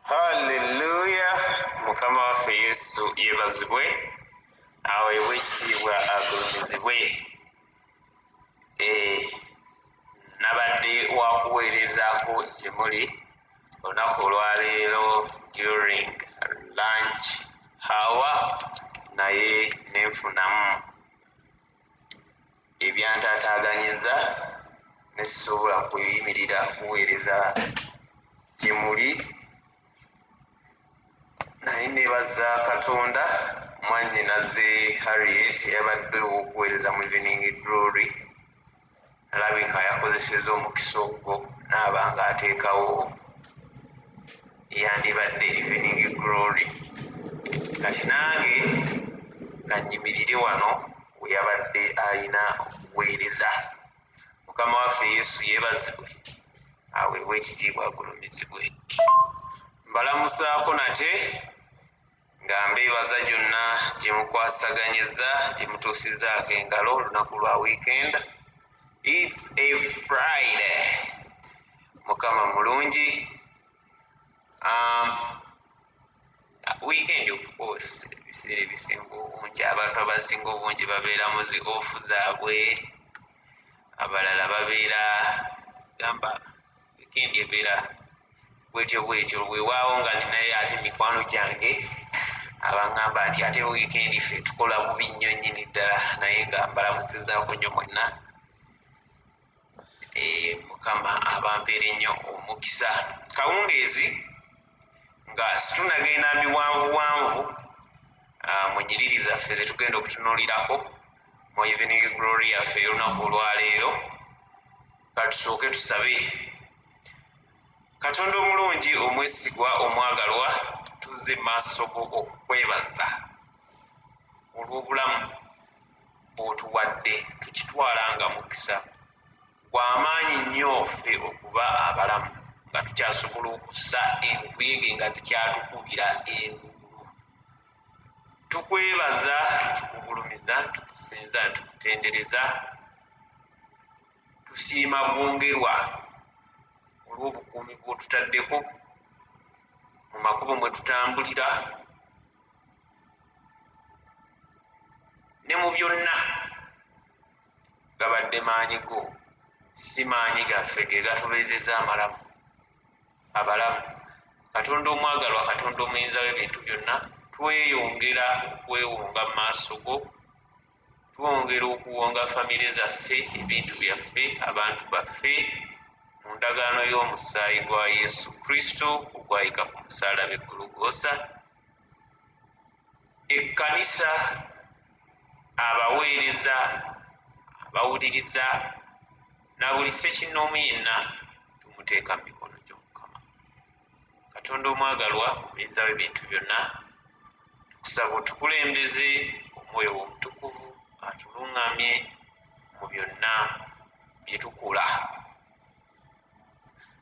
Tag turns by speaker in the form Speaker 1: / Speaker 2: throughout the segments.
Speaker 1: haleluya mukama waffe yesu yebazibwe aweebwe ekitiibwa agulumizibwe eh, nabadde wakuweerezaako gye muli olunaku olwaleero during lunch hawa naye nenfunamu ebyantaataaganyizza ne sisobola kuyimirira kuweereza gye muli naye nebaza katonda mwannyinaze harriet yabadde ow'okuweereza mu evening glory alabika yakozeseza omukisa ogwo naaba nga ateekawo yandibadde evening glory kati nange kanyimirire wano weyabadde alina okuweereza mukama waffe yesu yebazibwe aweebwa ekitiibwa agulumizibwe mbalamusaako nate nga mbeebaza gyonna gye mukwasaganyizza gye mutuusizzaako engalo olunaku lwa wiikenda its a friday mukama mulungi um, weekend of course ebiseera ebisinga obungi abantu abasinga obungi babeera mu zi off zaabwe abalala babeera gamba weekend ebeera bwetyo bwetyo wewaawo nga ninaye ate mikwano gyange abangamba nti ate weekend ffe tukola bubi nnyo nyini ddala naye nga mbalamusizaako nnyo mwenna eh, mukama abampeera ennyo omukisa kawungeezi nga situnagenda miwanvuwanvu ah, mu nyiriri zaffe zetugenda okutunuulirako mu evening glory yaffe ey'olunaku olwaleero katusooke tusabe katonda omulungi omwesigwa omwagalwa tuze maaso go okukwebaza olw'obulamu bwotuwadde tukitwala nga mukisa gwamaanyi nnyo ffe okuba abalamu nga tukyasobola okussa enkuyege nga zikyatukubira engu tukwebaza tukugulumiza tukusinza tukutendereza tusiima bwongerwa olw'obukuumi bw'otutaddeko mu makubo mwe tutambulira ne mu byonna gabadde maanyi go si maanyi gaffe ge gatubeezeza amalamu abalamu katonda omwagalwa katonda omuyinza w'ebintu byonna tweyongera okwewonga mu maaso go twongera okuwonga famire zaffe, ebintu byaffe, abantu baffe mu ndagaano y'omusaayi gwa Yesu Kristo ogwayika ku musalaba e Gologoosa. Ekkanisa, abaweereza, abawuliriza na buli ssekinnoomu yenna tumuteeka mu mikono gy'Omukama. katonda omwagalwa muyinza webintu byonna tukusaba otukulembeze omwoyo womutukuvu atulungamye mu byonna byetukula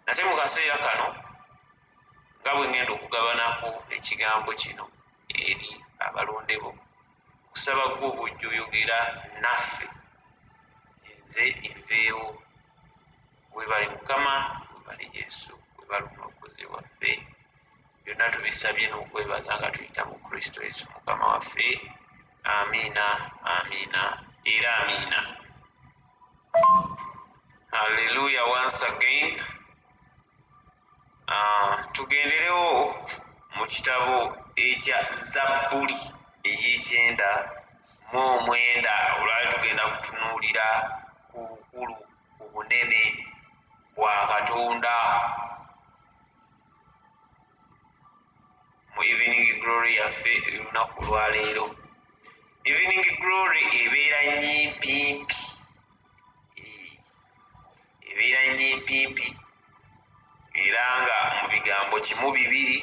Speaker 1: nate mu kaseera kano nga bwe ŋŋenda okugabanako ekigambo kino eri abalonde bo okusaba gwe obujja oyogera naffe nze enveewo webale mukama webale yesu webale omulokozi waffe byonna tubisabye n'okwebaza nga tuyita mu kristo yesu mukama waffe amiina amiina era amiina halleluya once again uh, tugenderewo mu kitabo ekya zabbuli eyekyenda mu omwenda olwali tugenda kutunuulira ku bukulu ku bunene bwa katonda mu evening glory yaffe olunaku olwaleero evening glory ebeera nyimpimpi ebeera nyimpimpi era nga mu bigambo kimu bibiri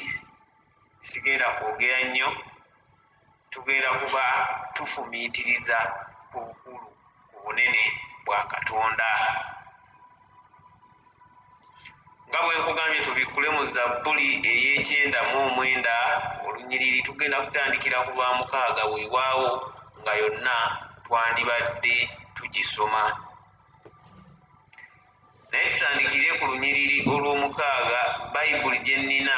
Speaker 1: sigenda kwogera nnyo Tugenda kuba tufumiitiriza ku bukulu, ku bunene bwa Katonda. Nga bwe nkugambye, tubikkule mu Zabbuli ey'ekyenda mu omwenda olunyiriri. Tugenda kutandikira ku lwa mukaaga, weewaawo, nga yonna twandibadde tugisoma. Naye tutandikire ku lunyiriri olw'omukaaga, Bayibuli gye nnina.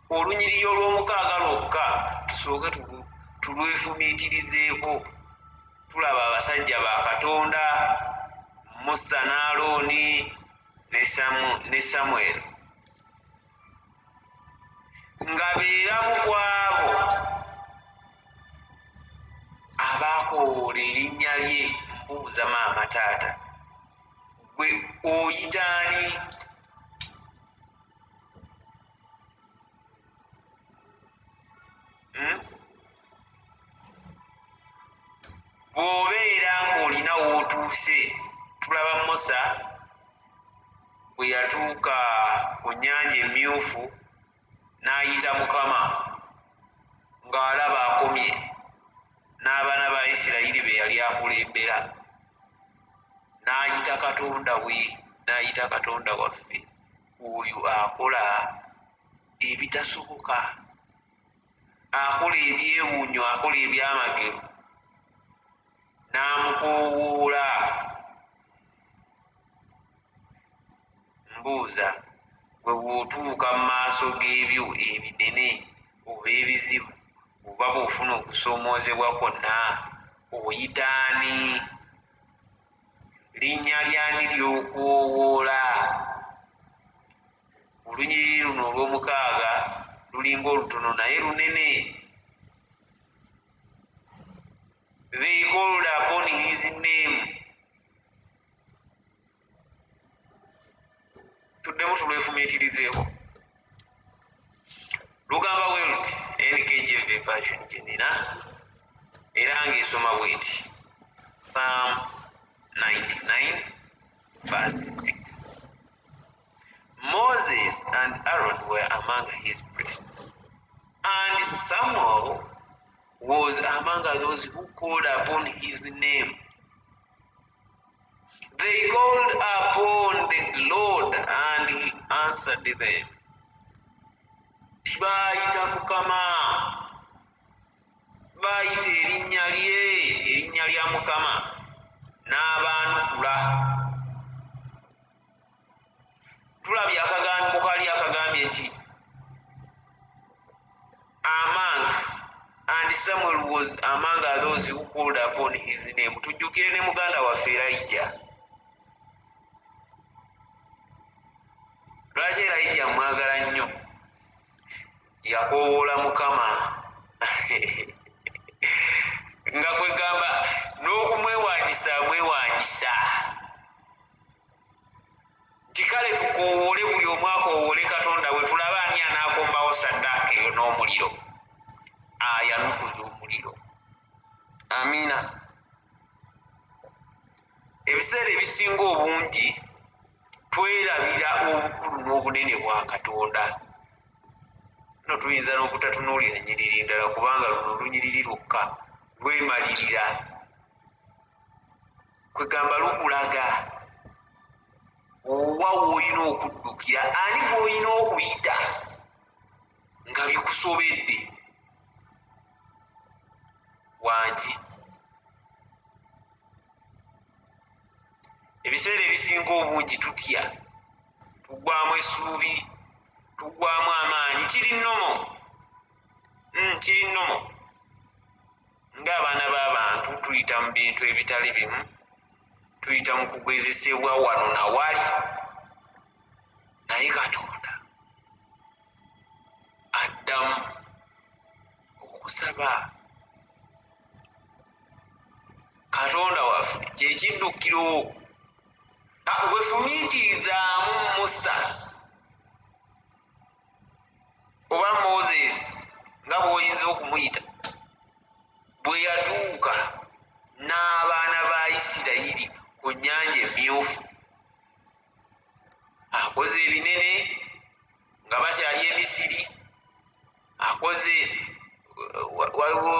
Speaker 1: olunyiriri olw'omukaaga lwokka tusooke tulwefumiitirizeeko tulaba abasajja ba katonda musa ne alooni ne samweri nga beeramu kwabo abaakowoola erinnya lye mbuuza maama taata gwe oyitaani hmm? bw'obeera ng'olina w'otuuse tulaba musa bwe yatuuka ku nnyanja emmyufu n'ayita mukama ng'alaba akomye n'abaana ba isirayiri be yali akulembera n'ayita katonda we n'ayita katonda waffe oyo akola ebitasoboka akola ebyewunyo akola ebyamagero n'amukoowoola mbuuza gwe bw'otuuka mu maaso g'ebyo ebinene oba ebizibu oba bw'ofuna okusoomoozebwa kwonna oyitaani linnya lyani ly'okuwoowoola? Olunyiriri luno olw'omukaaga lulinga olutono naye lunene. They called upon his name. tuddemu tulwefumiitirizeeko lugamba bwe luti nkjv version gye nina era ng'esoma bweti psalm 99 verse 6 moses and aaron were among his priests and samuel was among those who called upon his name They called upon the Lord and he answered them. Baayita Mukama, baayita erinnya lye, erinnya lya Mukama n'abaanukula. tulabye akagambi bukali akagambye nti among and samuel was among those who called upon his name tujjukire ne muganda waffe erayija lwaki erayija mwagala nnyo yakowoola mukama nga kwegamba n'okumwewanyisa amwewanyisa nti kale tukoowoole buli omu akoowoole katonda we tulabe ani anaakombawo saddaaka eyo n'omuliro ayanukuza omuliro amiina ebiseera ebisinga obungi twerabira obukulu n'obunene bwa katonda no tuyinza n'okutatunuulira nyiriri ndala kubanga luno lunyiriri lwokka lwemalirira kwegamba lukulaga owa woolina okuddukira ani gwolina okuyita nga bikusobedde wangi ebiseera ebisinga obungi tutya tugwamu esuubi tugwamu amaanyi kiri nomo hmm, kiri nomo ng'abaana b'abantu tuyita mu bintu ebitali bimu tuyita mu kugezesebwa wano na wali naye katonda addamu okusaba katonda waffe kyekiddukiro gwefumiitirizaamu musa oba moses nga bwoyinza okumuyita bwe yatuuka n'abaana ba isirayiri ku nyanja emyufu akoze ebinene nga bakyali emisiri akoze waliwo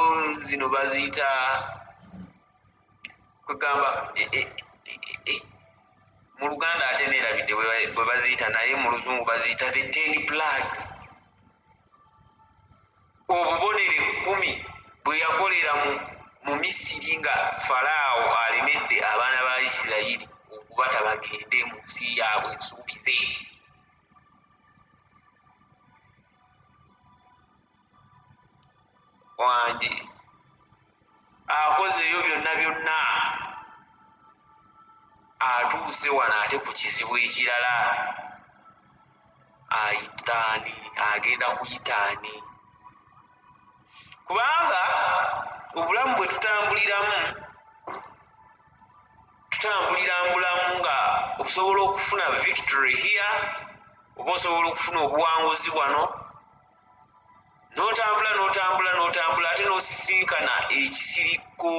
Speaker 1: zino baziyita kwegamba e, e, e, mu luganda ate nerabidde bwe baziyita naye mu luzungu baziyita the ten plugs obubonero ekkumi bwe yakolera mu misiri nga falaawo alemedde abaana ba isirayiri okubata bagende mu nsi yaabwe ensuubize wange akozeeyo byonna byonna atuuse wano ate ku kizibu ekirala ayitaani agenda kuyitaani kubanga obulamu bwe tutambuliramu tutambulira mbulamu nga osobola okufuna victory here oba osobola okufuna obuwanguzi bwano n'otambula n'otambula n'otambula ate n'osisinkana ekisirikko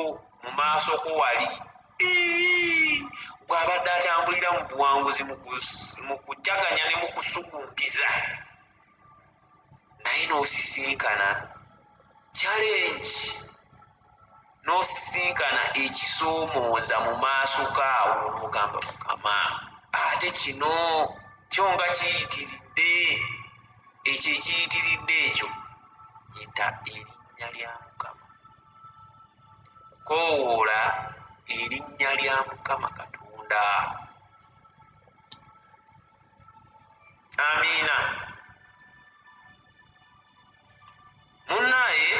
Speaker 1: mu maaso ko wali gw'abadde atambulira mu buwanguzi mu kujaganya ne mu kusugumbiza naye n'osisinkana challenge nosisinkana ekisomooza mu maaso gaawo nogamba mukama ate kino kyo nga kiyitiridde ekyo ekiyitiridde ekyo yita erinnya lya mukama kowoola erinnya lya mukama katonda amiina Munnaye,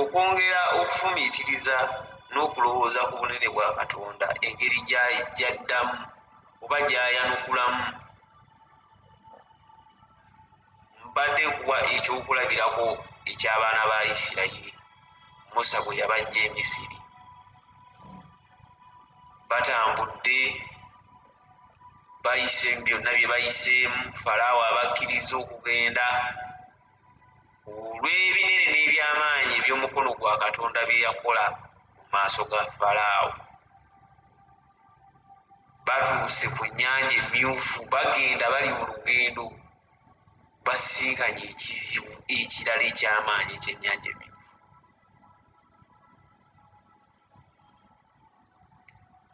Speaker 1: okwongera okufumiitiriza n'okulowooza ku bunene bwa Katonda, engeri gy'addamu oba gy'ayanukulamu, mbadde nkuwa eky'okulabirako eky'abaana ba Isirayiri, Musa bwe yabaggya e Misiri. Batambudde, bayise byonna bye bayiseemu, Falaawo abakkirizza okugenda. olw'ebinene n'ebyamaanyi eby'omukono gwa katonda bye yakola mu maaso ga falaawo batuuse ku nnyanja emmyufu bagenda bali mu lugendo basinkanye ekizibu ekirala eky'amaanyi ekyennyanja emmyufu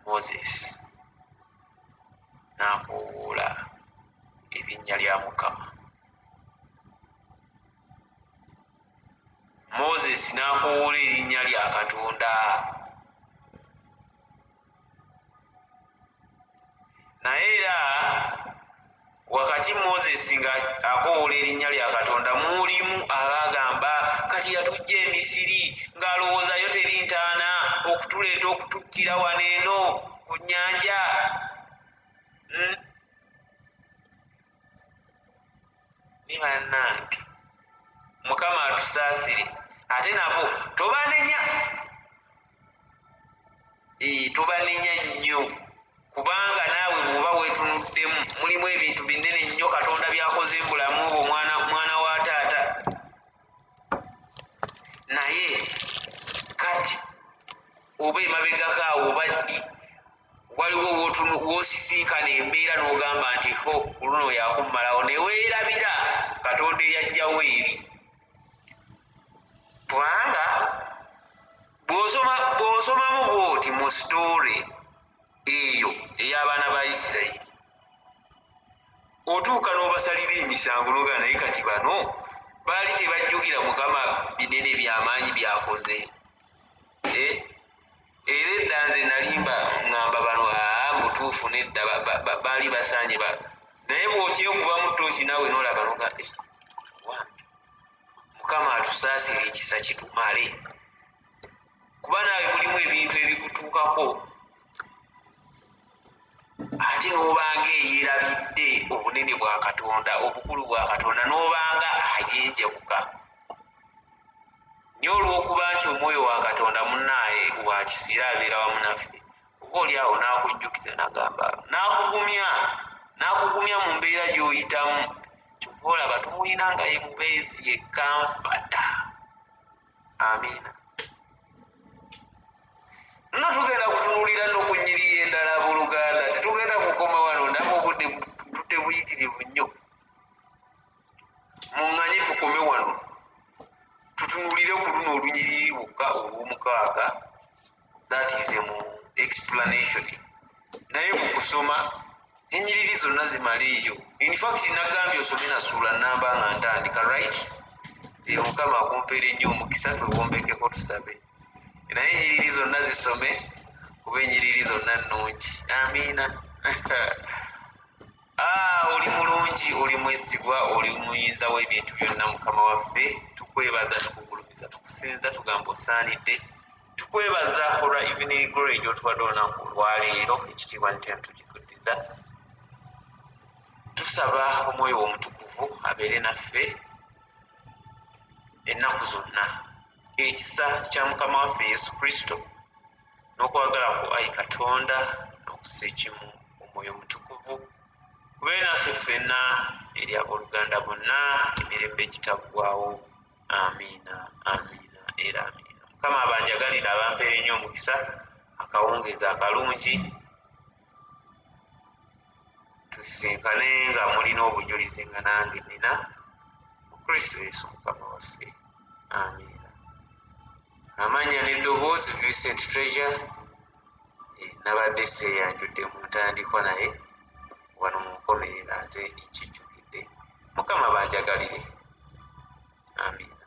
Speaker 1: moses n'akoowoola erinnya lya mukama moses n'akoowoola erinnya lya katonda naye era wakati moses nga akowoola erinnya lya katonda mulimu abaagamba kati yatujja emisiri ng'alowoozayo teri ntaana okutuleeta okututtira wano eno ku nnyanja hmm? ni banange mukama atusaasire ate nabo tobanenya ee tobanenya nnyo kubanga naawe bwoba wetunuddemu mulimu ebintu binene nnyo katonda byakoze mbulamu obwo mwana mwana wa taata naye kati oba emabegako awo baddi waliwo wosisinkana embeera n'ogamba nti ho ku luno yakummalawo ne weerabira katonda eyajjawo eri kubanga bw'osomamu bw'oti mu sitoole eyo ey'abaana ba isirayiri otuuka n'obasalira emisango n'ogana naye kati bano baali tebajjukira mukama binene by'amaanyi byakoze eh, era edda nze nalimba ngamba bano aa mutuufu nedda baali basaanye ba naye bwokyekubamu tooki nawe nolaba noga eh, mukama atusaasire ekisa kitumale kuba naawe mulimu ebintu ebikutuukako ate nobanga eyerabidde obunene bwa katonda obukulu bwa katonda nobanga ayenjabuka naye olw'okuba nti omwoyo wa katonda munaaye wa kisa era abeera wamu naffe oba oli awo n'akujjukiza nagamba n'akugumya n'akugumya mu mbeera gy'oyitamu kyova olaba tumulina nga ye mubeezi yekanfata amiina nno tugenda kutunulira n'okunyiriya endala buluganda tetugenda kukoma wano ndaba obudde tutebuyitirivu nnyo muŋŋanye tukome wano tutunulire ku luno olunyiriri lwokka olw'omukaaga that is mu explanation naye mu kusoma enyiriri zonna zimala eyo infact nagambye osome nasuula namba nga ntandika right eyo mukama akumpeera ennyo omukisa twewombekeko tusabe naye enyiriri zonna zisome kuba enyiriri zonna nnungi amiina Ah, oli mulungi oli mwesigwa oli muyinza w'ebintu byonna mukama waffe tukwebaza tukugulumiza tukusinza tugamba osaanidde tukwebaza olwa evening glory gy'otuwadde olunaku olwaleero ekitiibwa nitya ntugikuddiza tusaba omwoyo w'omutukuvu abeere naffe ennaku zonna ekisa kya mukama waffe yesu kristo n'okwagala ku ayi katonda n'okusa ekimu omwoyo omutukuvu kubeere naffe ffenna eri abooluganda bonna emirembe egitaggwawo amiina amiina era amiina mukama abanjagalire abampeere nnyo omukisa akawungeezi akalungi tusisinkane nga mulina obujulizi nga nange nina mu kristo yesu mukama waffe amiina amanya neddoboozi vincent treasure eh, nabadde seyanjudde mu ntandikwa naye wano munkomerera ate nkijjukidde mukama banjagalire amiina